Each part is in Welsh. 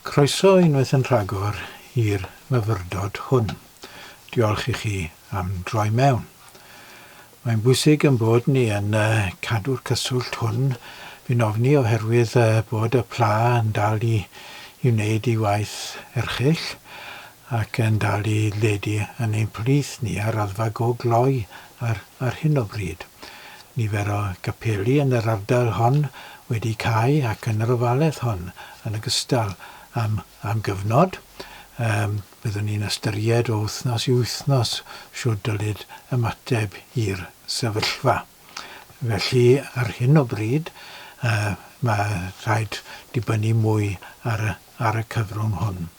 Croeso unwaith yn rhagor i'r myfyrdod hwn. Diolch i chi am droi mewn. Mae'n bwysig yn bod ni yn cadw'r cyswllt hwn, fi'n ofni oherwydd bod y pla yn dal i i wneud ei waith erchyll ac yn dal i ledu yn ein plith ni ar raddfa go gloi Ar ar hyn o bryd, nifer o gapeli yn yr ardal hon wedi cau ac yn yr ofaledd hon yn ogystal am am gyfnod. Yym, byddwn ni'n ystyried o wythnos i wythnos shwd dylid ymateb i'r sefyllfa. Felly, ar hyn o bryd, yy, mae rhaid dibynnu mwy ar y ar y cyfrwng hwn.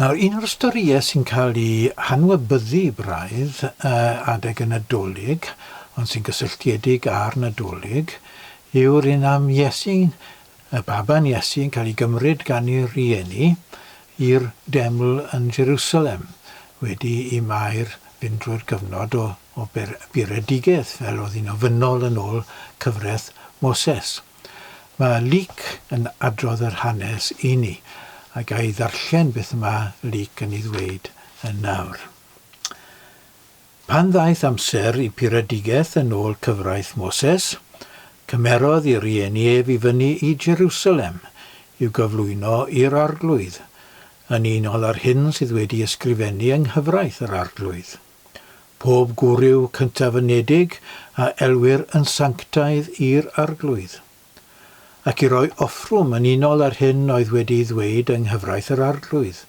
Nawr, un o'r storïau sy'n cael ei hanwybyddu braidd adeg y Nadolig, ond sy'n gysylltiedig â'r Nadolig, yw'r un am Iesu, y baban Iesu yn cael ei gymryd gan ei rieni i'r deml yn Jerusalem wedi i Mair fynd drwy'r cyfnod o bur-edigedd fel oedd hi'n ofynnol yn ôl cyfraith Moses. Mae Luc yn adrodd yr hanes i ni, a ga i ddarllen beth y mae Luc yn ei ddweud yn nawr. Pan ddaeth amser i puredigaeth yn ôl cyfraith Moses, cymerodd i rieni ef i fyny i Jerusalem i'w gyflwyno i'r arglwydd, yn unol â'r hyn sydd wedi ysgrifennu yng nghyfraith yr arglwydd. pob gwryw cyntaf-ynedig a elwir yn sanctaidd i'r Arglwydd, ac i roi offrwm yn unol â'r hyn oedd wedi'i ddweud yng nghyfraith yr Arglwydd,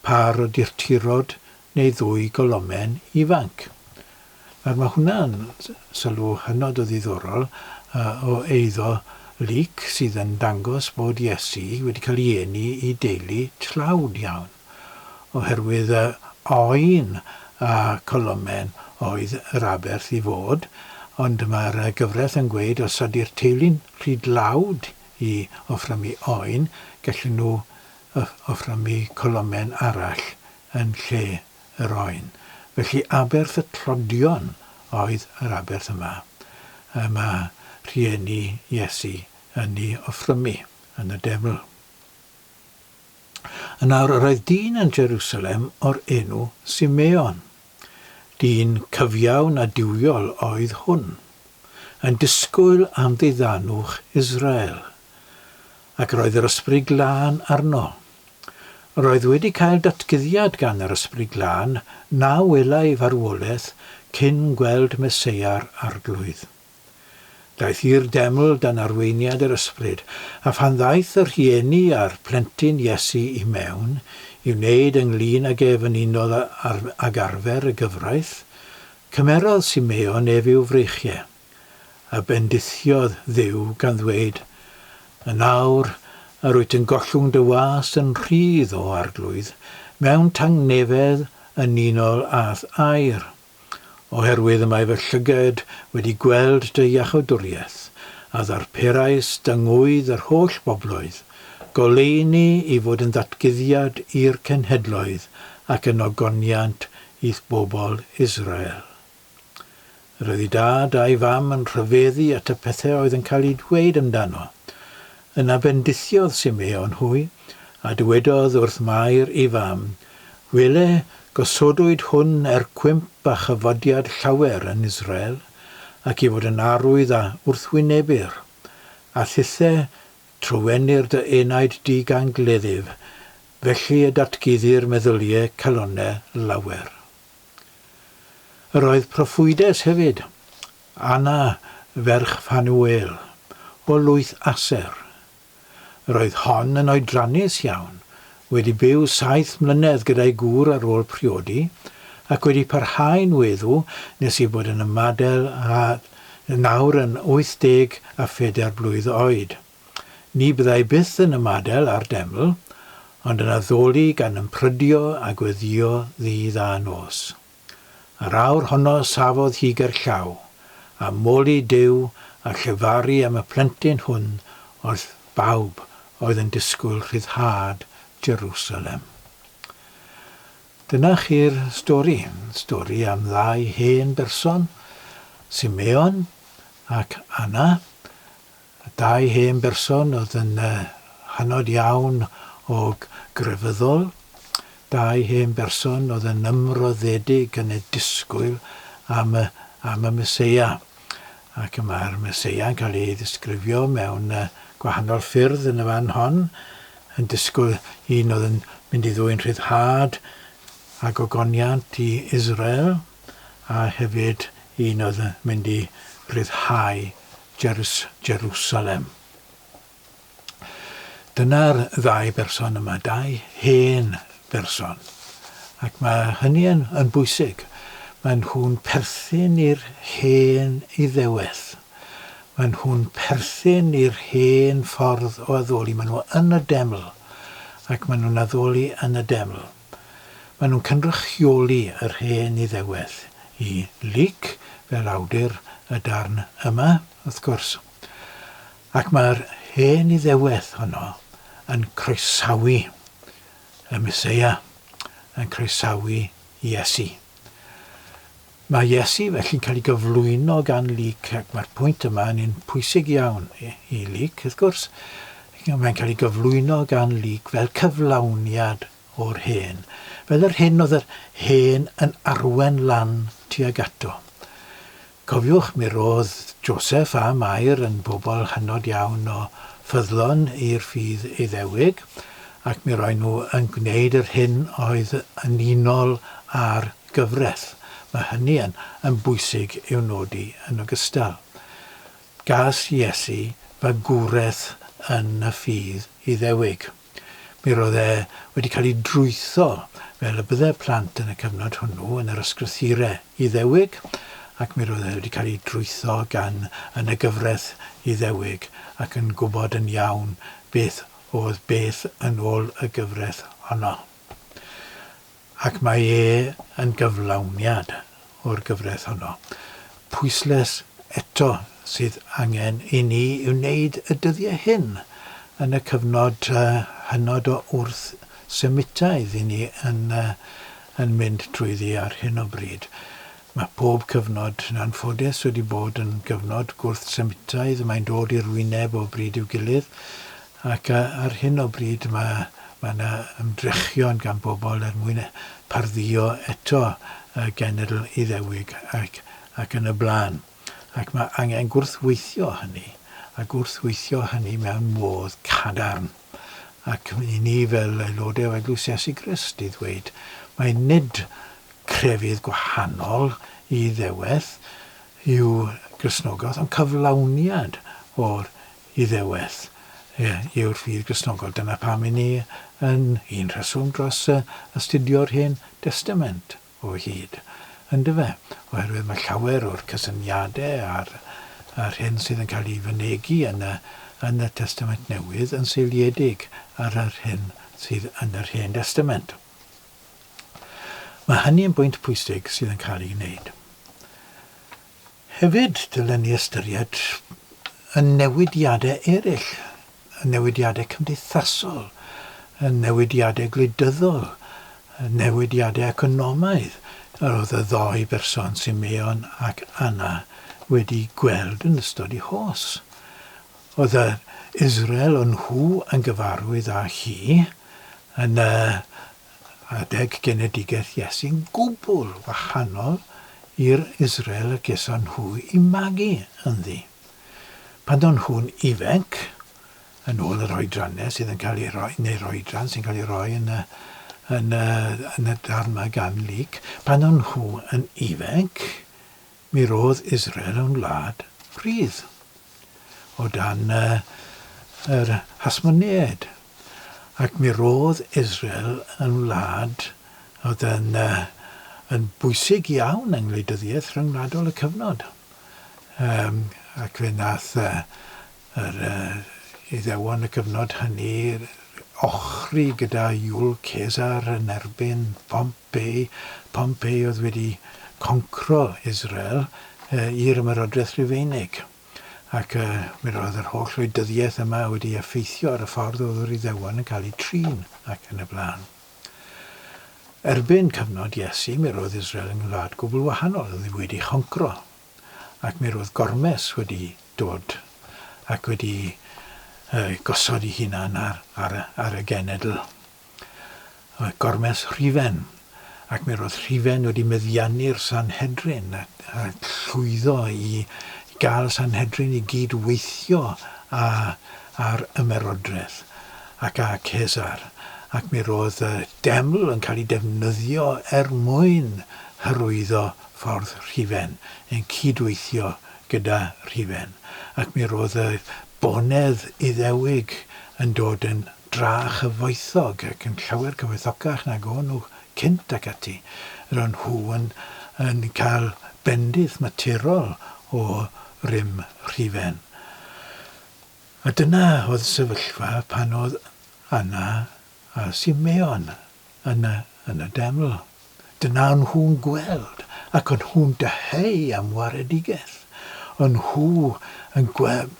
pâr o durturod neu ddwy golomen ifanc. Nawr, mae hwnna'n sylw hynod o ddiddorol o eiddo Luc, sydd yn dangos bod Iesu wedi cael ei eni i deulu tlawd iawn. oherwydd y oen a colomen oedd yr aberth i fod, ond mae'r gyfraith yn gweud os ydy'r teulu'n rhy dlawd i offrymu oen, gallen nhw offrymu colomen arall yn lle yr oen. Felly aberth y tlodion oedd yr aberth yma y mae rhieni Iesu yn ei offrymu yn y Deml. Yn awr yr oedd dyn yn Jerusalem o'r enw Simeon. Dyn cyfiawn a duwiol oedd hwn, yn disgwyl am ddiddanwch Israel. Ac yr oedd yr Ysbryd Glân arno. Yr oedd wedi cael datguddiad gan yr Ysbryd Glân na welai farwolaeth cyn gweld Meseia'r Arglwydd. Daeth i'r deml dan arweiniad yr Ysbryd, a phan ddaeth y rhieni a'r plentyn Iesu i mewn i wneud ynglŷn ag ef yn unol ag arfer y gyfraith, cymerodd Simeon ef i'w freichie, a bendithiodd Dduw gan ddweud, Yn awr yr wyt yn gollwng dy was yn rhydd, O Arglwydd, mewn tangnefedd yn unol â'th air. oherwydd y mae fy llyged wedi gweld dy iachawdwriaeth, a ddarperais dy ngŵydd yr holl bobloedd, goleuni i fod yn ddatguddiad i'r cenhedloedd ac yn ogoniant i'th bobl Israel. Yr oedd ei dad a'i fam yn rhyfeddu at y pethau oedd yn cael eu dweud amdano, Yna bendithiodd Simeon hwy, a dywedodd wrth Mair ei fam, Wele, gosodwyd hwn er cwymp a chyfodiad llawer yn Israel, ac i fod yn arwydd a wrthwynebir, a thithe trywennir dy enaid di gan gleddyf, felly y datguddir meddylie calonne lawer. Yr oedd proffwydes hefyd, Anna, ferch Ffanuel, o lwyth Aser. Roedd hon yn oedrannus iawn, wedi byw saith mlynedd gyda'i gŵr ar ôl priodi, ac wedi parhau'n weddw nes ei bod yn ymadael â nawr yn 84 blwydd oed. Ni byddai byth yn ymadael â'r deml, ond yn addoli gan ymprydio a gweddïo ddydd a nos. Yr awr honno safodd hi gerllaw, a moli Duw a llefaru am y plentyn hwn wrth bawb oedd yn disgwyl rhyddhad Jerusalem. Dyna chi'r stori, stori am ddau hen berson, Simeon ac Anna, Y dau hen berson oedd yn hynod iawn o grefyddol, dau hen berson oedd yn ymroddedig yn eu disgwyl am y, am y Meseia. Ac mae'r Meseia'n cael ei ddisgrifio mewn gwahanol ffyrdd yn y fan hon, yn disgwyl un oedd yn mynd i ddwyn rhyddhad a gogoniant i Israel, a hefyd un oedd yn mynd i ryddhau Jerws, Jerusalem. Dyna'r ddau berson yma, dau hen berson. Ac mae hynny yn, yn bwysig. Maen nhw'n perthyn i'r hen iddewedd. Maen nhw'n perthyn i'r hen ffordd o addoli. Maen nhw yn y deml ac maen nhw'n addoli yn y deml. Maen nhw'n cynrychioli yr hen Iddewedd i Luc fel awdur y darn yma, wrth gwrs, ac mae'r hen Iddewedd honno yn croesawu y Meseia, yn croesawu Iesu. Mae Iesu felly'n cael ei gyflwyno gan Luc, ac mae'r pwynt yma yn un pwysig iawn i Luc, wrth gwrs. Mae'n cael ei gyflwyno gan Luc fel cyflawniad o'r hen, fel yr hyn oedd yr hen yn arwen lan tuag ato. Cofiwch, mi roedd Joseph a Mair yn bobl hynod iawn o ffyddlon i'r ffydd Iddewig, ac mi roen nhw yn gwneud yr hyn oedd yn unol â'r gyfraith, mae hynny yn yn bwysig i'w nodi yn ogystal. Gas Iesu fagwraeth yn y ffydd Iddewig. Mi roedd e wedi cael ei drwytho fel y bydde plant yn y cyfnod hwnnw yn yr ysgrythyrau Iddewig, ac mi roedd e wedi cael ei drwytho gan yn y gyfraith Iddewig ac yn gwybod yn iawn beth oedd beth yn ôl y gyfraith honno. Ac mae e yn gyflawniad o'r gyfraith honno. Pwyslais eto sydd angen i ni i'w wneud y dyddiau hyn, yn y cyfnod hynod o wrth Semitaidd i ni yn yn mynd trwyddi ar hyn o bryd, Mae pob cyfnod, yn anffodus, wedi bod yn gyfnod gwrth-Semitaidd, mae'n dod i'r wyneb o bryd i'w gilydd, ac ar hyn o bryd mae mae yna ymdrechion gan bobl er mwyn pardduo eto y genedl Iddewig ac ac yn y blaen, ac mae angen gwrthweithio hynny, a gwrthweithio hynny mewn modd cadarn. ac i ni fel aelodau o Eglwys Iesu Grist i ddweud mai nid crefydd gwahanol i ddeweth yw Cristnogaeth, ond cyflawniad o'r Iddeweth yw'r ffydd Gristnogol. Dyna pam i ni yn un rheswm dros astudio'r Hen Destament. o hyd, yndyfe, oherwydd mae llawer o'r cysyniadau a'r a'r hyn sydd yn cael ei fynegi yn y yn y Testament Newydd yn seiliedig ar yr hyn sydd yn yr Hen Destament. Mae hynny yn bwynt pwysig sydd yn cael ei wneud. Hefyd, dylen ni ystyried y newidiadau eraill, y newidiadau cymdeithasol, y newidiadau gwleidyddol, y newidiadau economaidd yr oedd y ddou berson, Simeon ac Anna, wedi gweld yn ystod eu hos. Oedd yr Israel o'n nhw yn gyfarwydd â hi yn y adeg genedigaeth Iesu'n gwbl wahanol i'r Israel y geson nhw i magu ynddi. Pan o'n nhw'n ifainc, yn ôl yr oedrannau sydd yn cael ei roi, neu'r oedran sy'n cael ei roi yn y, yn y, yn y darn yma gan Luc, pan o'n nhw yn ifainc, Mi roedd Israel yn wlad rhydd o dan yr Hasmoneaid, ac mi roedd Israel yn wlad oedd yn yn bwysig iawn yng ngwleidyddiaeth ryngwladol y cyfnod. Yym, ac fe nath yy yr yy Iddewon y cyfnod hynny ochri gyda Iul Cesar yn erbyn Pomp Be pam pe oedd wedi concro Israel i'r Ymerodraeth Rufeinig? Ac mi roedd yr holl wleidyddiaeth yma wedi effeithio ar y ffordd oedd yr Iddewon yn cael eu trin, ac yn y blaen. Erbyn cyfnod Iesu, mi roedd Israel yn wlad gwbl wahanol, oedd hi wedi choncro, ac mi roedd gormes wedi dod ac wedi gosod ei hunan ar y genedl. a gormes Rhufen, ac mi roedd Rhufen wedi meddiannu'r Sanhedrin a llwyddo i gael Sanhedrin i gyd weithio â'r Ymerodraeth ac â Cesar, ac mi roedd y Deml yn cael ei defnyddio er mwyn hyrwyddo ffordd Rhufen, yn cyd-weithio gyda Rhufen, ac mi roedd y bonedd Iddewig yn dod yn dra a chyfoethog ac yn llawer cyfoethocach nag o'n nhw cynt ac ati, ro'n nhw yn yn cael bendith maturol o rym rhufen. A dyna oedd sefyllfa pan oedd Anna a Simeon Yna, yn y deml, dyna o'n nhw'n gweld, ac o'n nhw'n dyheu am waredigaeth. O'n nhw yn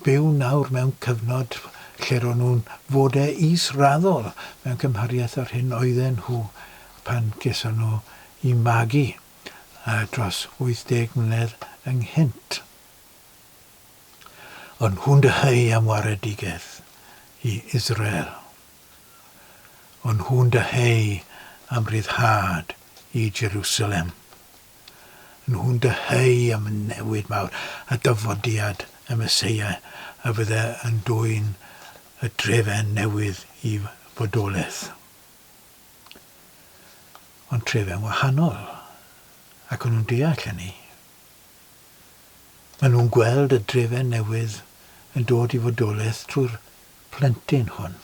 byw nawr mewn cyfnod lle ro'n nhw'n fode is-raddol mewn cymhariaeth â'r hyn oedden nhw pan geson nhw i magu dros 80 mlynedd ynghynt. O'n nhw'n dyheu am waredigaeth i Israel. ond nhw'n dyheu am ryddhad i Jerusalem. Nhw'n dyheu am y newid mawr, y dyfodiad, y Meseia a fydde yn dwyn y trefen newydd i fodolaeth. Ond trefen wahanol, ac nhw'n deall hynny. Maen nhw'n gweld y drefen newydd yn dod i fodolaeth trwy'r plentyn hwn.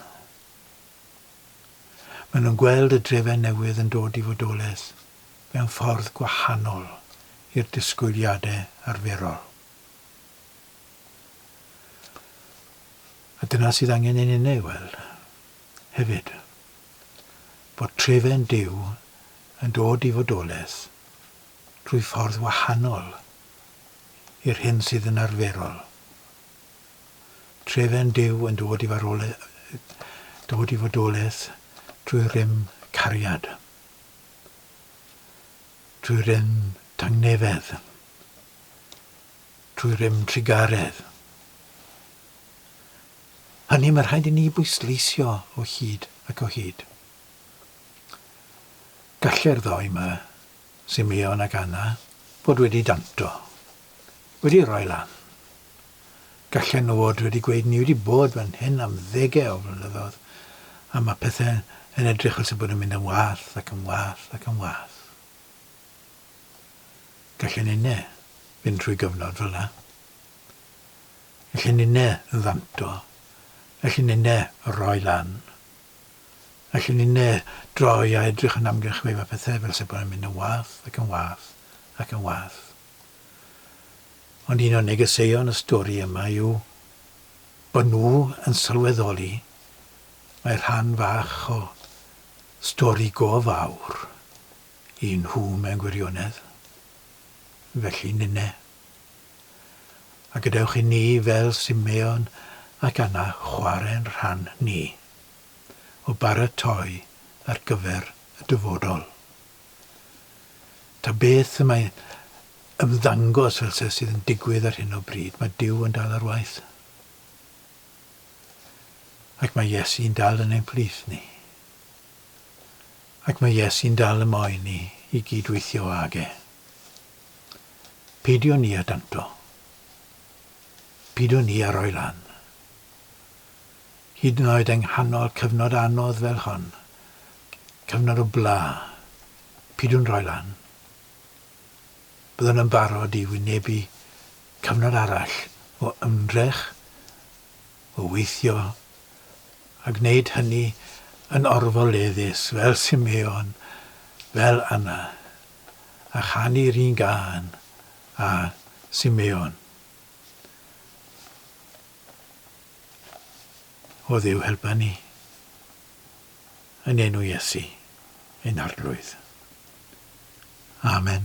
Maen nhw'n gweld y drefen newydd yn dod i fodolaeth mewn ffordd gwahanol i'r disgwyliadau arferol. A dyna sydd angen ein unig weld, hefyd, bod trefen Duw yn dod i fodolaeth drwy ffordd wahanol i'r hyn sydd yn arferol. Trefen Duw yn dod i farwole- dod i fodolaeth trwy rym cariad, trwy rym tangnefedd, trwy rym trugaredd. Hynny mae rhaid i ni bwysleisio o hyd ac o hyd. Galle'r ddou 'ma Simeon ac Anna fod wedi danto, wedi rhoi lan. Gallen nhw fod wedi gweud ni wedi bod fan hyn am ddegau o flynyddoedd a mae pethau yn edrych fel sy'n bod yn mynd yn wath ac yn wath ac yn wath. Gallen inne fynd trwy gyfnod fel yna. Gallen inne yn ddanto. Gallen inne rhoi lan. Felly ni'n droi a edrych yn amgylch wefan pethau fel se bron yn mynd yn wath ac yn wath ac yn wath. Ond un o negeseuon y stori yma yw bod nhw yn sylweddoli mae rhan fach o stori go fawr i nhw mewn gwirionedd. Felly ninne. a gadewch i ni fel Simeon ac Anna chwarae'n rhan ni o baratoi ar gyfer y dyfodol. Ta beth y mae'n ymddangos fel se sydd yn digwydd ar hyn o bryd, mae Duw yn dal ar waith. Ac mae Iesu'n dal yn ein plith ni. Ac mae Iesu'n dal y moyn ni i gyd-weithio ag e. Peidiwn ni â danto. Peidiwn ni â rhoi lan. Hyd yn oed yng nghanol cyfnod anodd fel hon, cyfnod o bla, peidiwn rhoi lan. Byddwn yn barod i wynebu cyfnod arall o ymdrech, o weithio, a gwneud hynny yn orfoleddus fel Simeon, fel Anna, a chanu'r un gân â Simeon O Dduw helpa ni yn enw Iesu ein Arglwydd. Amen.